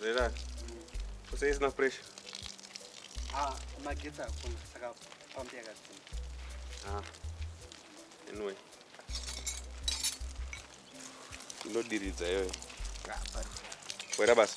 Relax. Kose isina pressure. Ah, magetsi hakuna saka pambi yakadzima. Ah. Anyway. Ndodiridza iyoyo. Wera basa.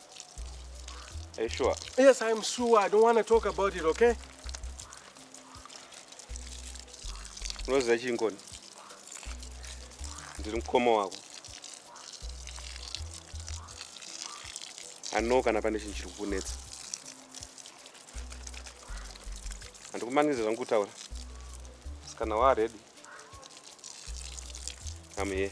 Are you sure? Yes, I'm sure. I don't want to talk about it, okay? Unoziva chii Ngoni? Ndiri mukoma wako. I know kana pane chinhu chiri kukunetsa. Handikumangize zvangu kutaura. Kana waa ready. I'm here.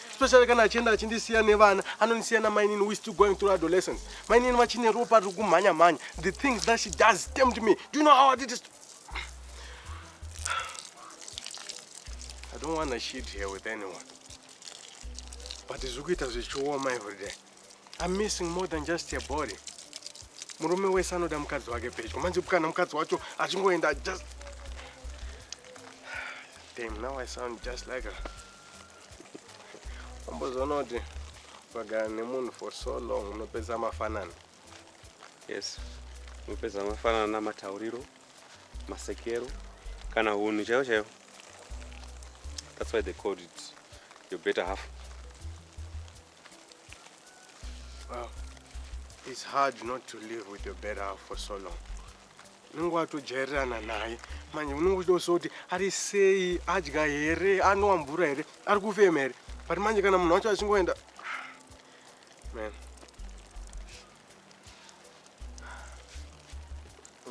especially kana achienda achindisiya nevana anondisiya namainini we still going through adolescence mainini vachine ropa riri kumhanya mhanya the things that she does tempt me do you know how i did it i don't want to shit here with anyone but zviri kuita zvichioma every day i'm missing more than just your body murume wese anoda mukadzi wake pedyo manje kana mukadzi wacho achingoenda just Damn, now I sound just like her. Ambozoona kuti ukagara nemunhu for so long unopedza mafanana. Yes. Unopedza mafanana namatauriro, masekero kana hunhu chaiwo chaiwo. That's why they called it your better half. Wow. It's hard not to live with your better half for so long. Unenge watojairana naye manje unenge uchitoziva kuti ari sei adya here anwa mvura here ari kufema here but manje kana munhu wacho achingoenda man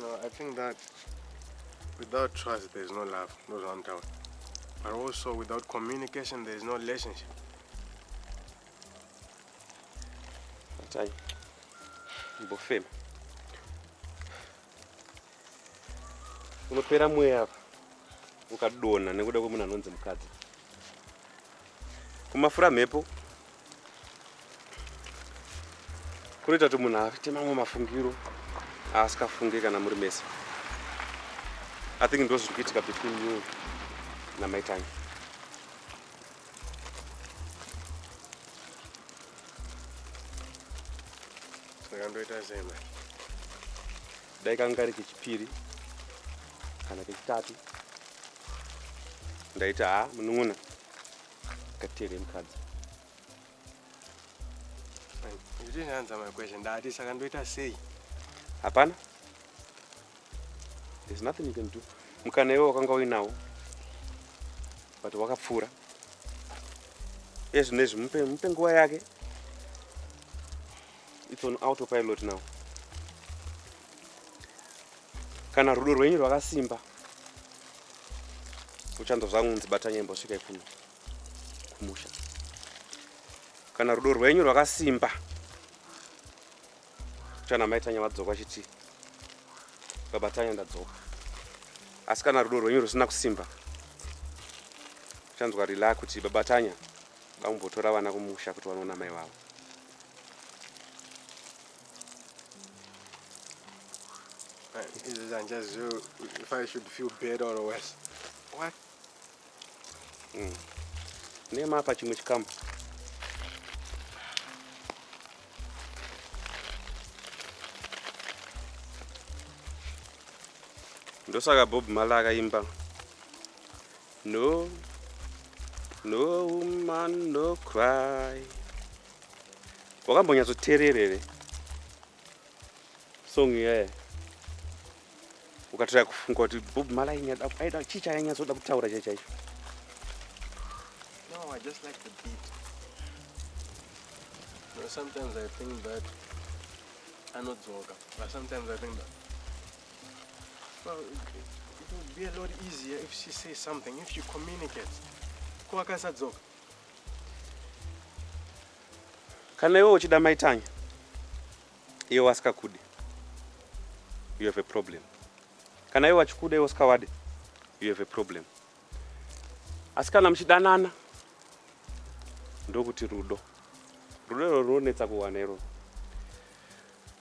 No, I think that without trust there is no love, no round town. But also without communication there is no relationship. Atai. Mbofema. Unopera mweya apa. Ukadona nekuda kwemunhu anonzi mukadzi. kumafura mhepo kunoita kuti munhu aite mamwe mafungiro aasingafunge kana muri mese i think ndo zviri kuitika between you namaitangi ndakandoita zema dai kanga kari kechipiri kana kechitatu ndaita ha munun'una katere mukadzi ndichinyanza makweshe ndati saka ndoita sei hapana there's nothing you can do mukana iwe wakanga uinawo but wakapfuura ezvino izvi mupe mupe nguva yake it's on autopilot now kana rudo rwenyu rwakasimba uchanzwa zvangu unzi bata nyembo svika ikuno kumusha kana rudo rwenyu rwakasimba uchana maitanya vadzoka achiti babatanya ndadzoka asi kana rudo rwenyu rusina kusimba uchanzwa rila kuti babatanya vambotora vana kumusha kuti vanoona mai vavo Izvi handichazivi if I should feel better or worse. What? Mm. Nema apa chimwe chikamu. Ndosaka Bob Malaka imba. No, no woman no cry. Wakambonyatsoteerera here song iyaye ukatira kufunga kuti Bob Marley aida chii chainyatsoda kutaura chai chaicho? No, I just like the beat. No, sometimes I think that anodzoka, but sometimes I think that Well, it would be a lot easier if she says something, if she communicates. Ko akasadzoka. Kana iwe uchida mai Tanya, iwe wasikakude. You have a problem. Kana iwe wachikuda iwe usikawade, you have a problem. Asi kana muchidanana ndokuti rudo. Rudo iroro runonetsa kuwana iroro.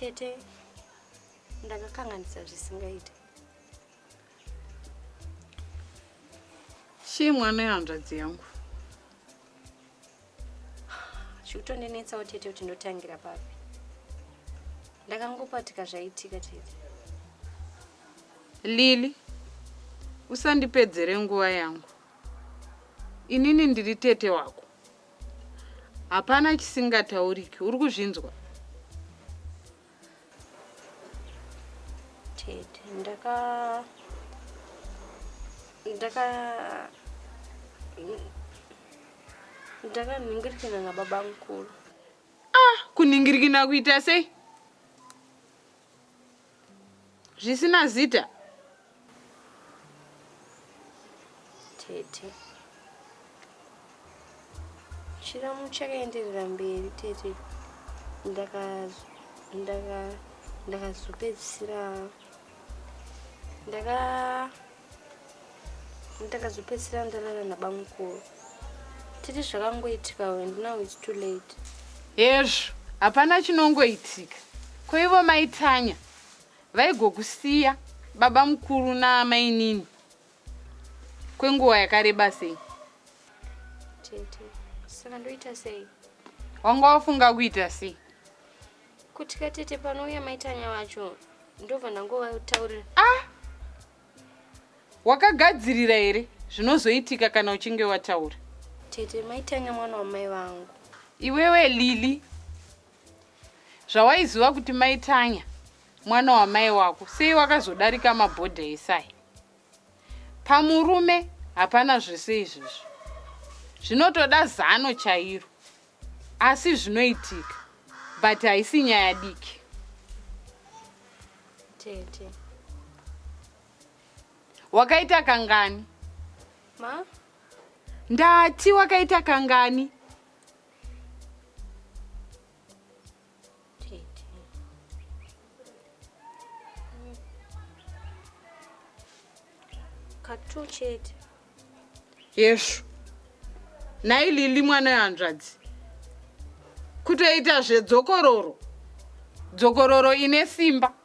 tete ndakakanganisa zvisingaiti chii mwana yehanzvadzi yangu zvikutondinetsawo tete kuti ndotangira papi ndakangopatika zvaitika tete lili usandipedzere nguva yangu inini ndiri tete wako hapana chisingatauriki uri kuzvinzwa ndaka ndaka ndakanhingirikina nababa mukuru ah kunhingirikina kuita sei zvisina zita tete chiramu chakaenderera mberi tete ndakazopedzisira ndaka ndakazopedzisira ndarara nabamukuru tete zvakangoitika and now its too late hezvo hapana chinongoitika koivo maitanya Vaigokusiya babamukuru naamainini kwenguva yakareba sei? Tete, saka ndoita sei? Wanga wafunga kuita sei? Kuti katete panouya maitanya vacho ndobva ndangovataurira. Ah! Wakagadzirira here zvinozoitika kana uchinge wataura? Tete, maitanya mwana wamai vangu. Iwewe Lili, Zvawaiziva kuti mai Tanya mwana wamai wako sei wakazodarika mabhodha esai? Pamurume hapana zvese izvezvi. Zvinotoda zano chairo. Asi zvinoitika but haisi nyaya diki. Tete. Wakaita kangani? Ma? Ndati wakaita kangani? katwo chete yesvo nhai lili mwana wehanzvadzi kutoita zvedzokororo dzokororo ine simba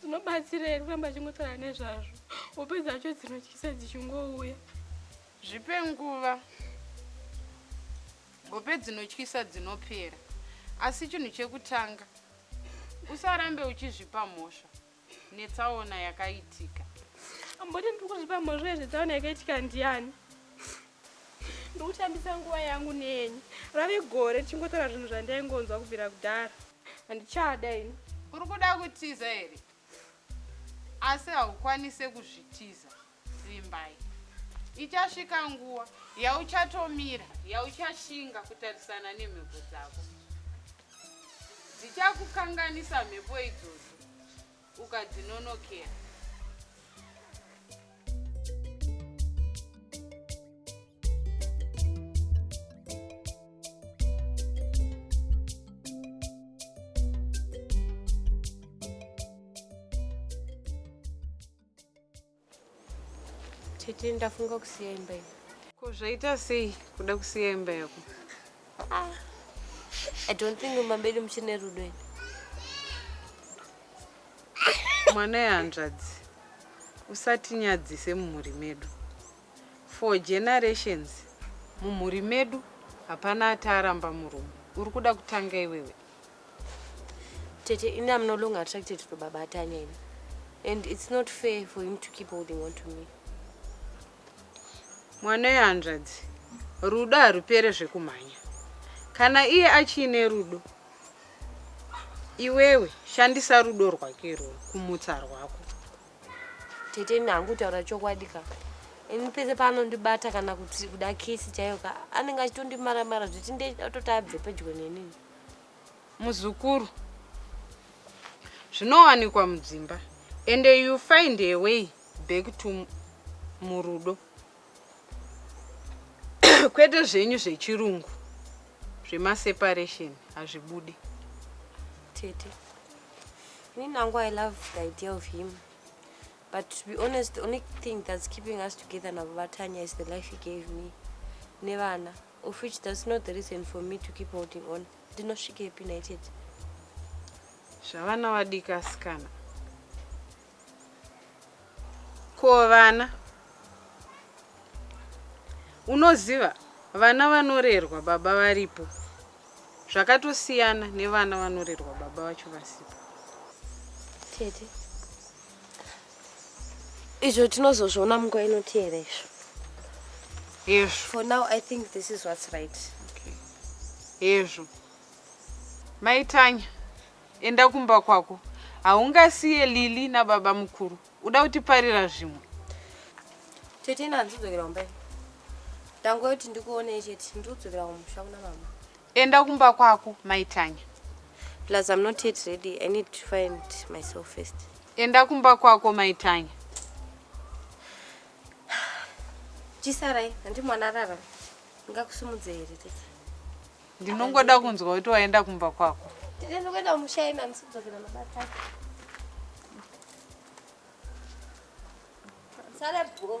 zvinobatsira here kuramba achingotaura nezvazvo upedza acho dzinotyisa dzichingouya zvipe nguva hope dzinotyisa dzinopera asi chinhu chekutanga usarambe uchizvipa mhosva netsaona yakaitika. Amboti ndiri kuzvipa mhosva yezvetsaona yakaitika ndiani? Ndokutambisa nguva yangu nenyu. Rave gore tichingotaura zvinhu zvandaingonzwa kubvira kudhara. Handichada ini. Uri kuda kutiza here? Asi haukwanise kuzvitiza. Vimbai. Ichasvika nguva yauchatomira, yauchashinga kutarisana nemhepo dzako. Dzichakukanganisa mhepo idzodzo ukadzinonokera. Tete ndafunga kusiya imba iyi. Ko zvaita sei kuda kusiya imba yako? Ah. I don't think mumba medu muchine rudo ini. Mwana yehanzvadzi usatinyadzise mumhuri medu. For generations mumhuri medu hapana ataaramba murume. Uri kuda kutanga iwewe. Tete, ini I'm no longer attracted to Baba Atanya ini. And it's not fair for him to keep holding on to me. Mwana yehanzvadzi, rudo harupere zvekumhanya. Kana iye achiine rudo, iwewe shandisa rudo rwake irworwo kumutsa rwako. Tete ini hangu kutaura chokwadi ka. Ini pese paanondibata kana kuti kuda kisi chaiyo ka anenge achitondimara mara zviti ndechida kutoti abve pedyo neni. Muzukuru. Zvinowanikwa mudzimba and you find a way back to murudo. kwete zvenyu zvechirungu zvemaseparation hazvibudi tete ini nangu i love the idea of him but to be honest the only thing that's keeping us together navo vatanya is the life he gave me nevana of which that's not the reason for me to keep holding on ndinosvikepi nhaitete zvavana vadika asikana Ko vana unoziva vana vanorerwa baba varipo zvakatosiyana nevana vanorerwa baba vacho vasipo. Tete. Izvo tinozozviona munguva inoteera izvo. Yes. For now I think this is what's right. Okay. Yes. Maitanya. Enda kumba kwako. Haungasiye Lily nababa mukuru. Uda kutiparira zvimwe. Tete ina handizodzokera kumba ini. Ndango yoti ndikuonei chete. Ndiri kudzokera kumusha kuna mama. Enda kumba kwako mai Tanya. Plus I'm not yet ready. I need to find myself first. Enda kumba kwako mai Tanya. Chisarai, handi mwana arara. Ngakusimudze here tete. Ndinongoda kunzwa kuti waenda kumba kwako. Ndinoenda kumusha ina ndisidzokera mabasa. Sare bro.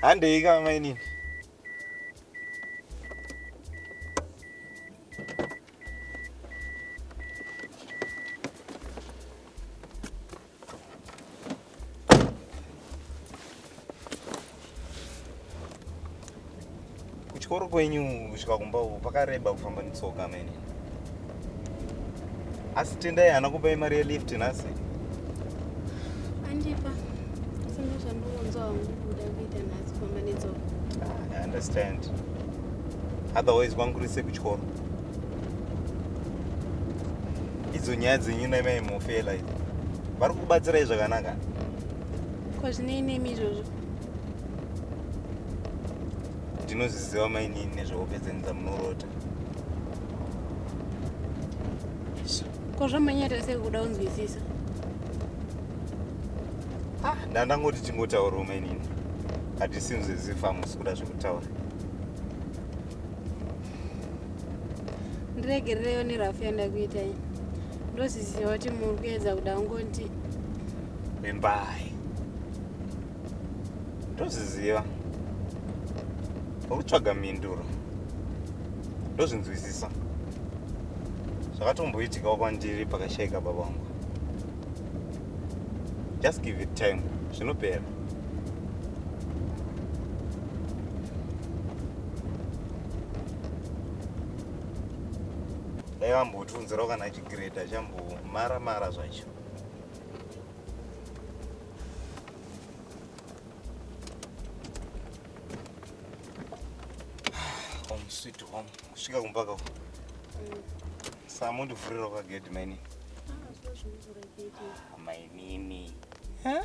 handei ka mainini kuchikoro kwenyu kusvika kumba uko pakareba kufamba netsoka mene asi tendai haana kupai mari yelift nhasi andipa asi ndozvandiunzwa hangu kuda kuita nhasi kufamba netsoka ah, i understand otherwise kwangurise kuchikoro idzo nyaya dzenyu naimai mofela idzi vari kubatsirai zvakanaka ko zvinei nemi izvozvo ndinozviziva mainini nezvehope dzenyu dzamunorota ko zvamanyata sei kuda kunzwisisa ah, ndandangoti chingotaurawo mainini hatisinzwe zifa hamusi kuda zvekutaura ndiregerereyo nerafu yandakuitai ndozviziva kuti muri kuedza kuda kungonti vimbai ndozviziva ukutsvaga mhinduro ndozvinzwisisa zvakatomboitikawo kwandiri pakashaika baba wangu just give it time zvinopera dai vambotiunzirawo kana chigreda chambomara mara zvacho home sweet home kusvika kumbaka uko samundivhurira kwagedhi mainini mainini huh?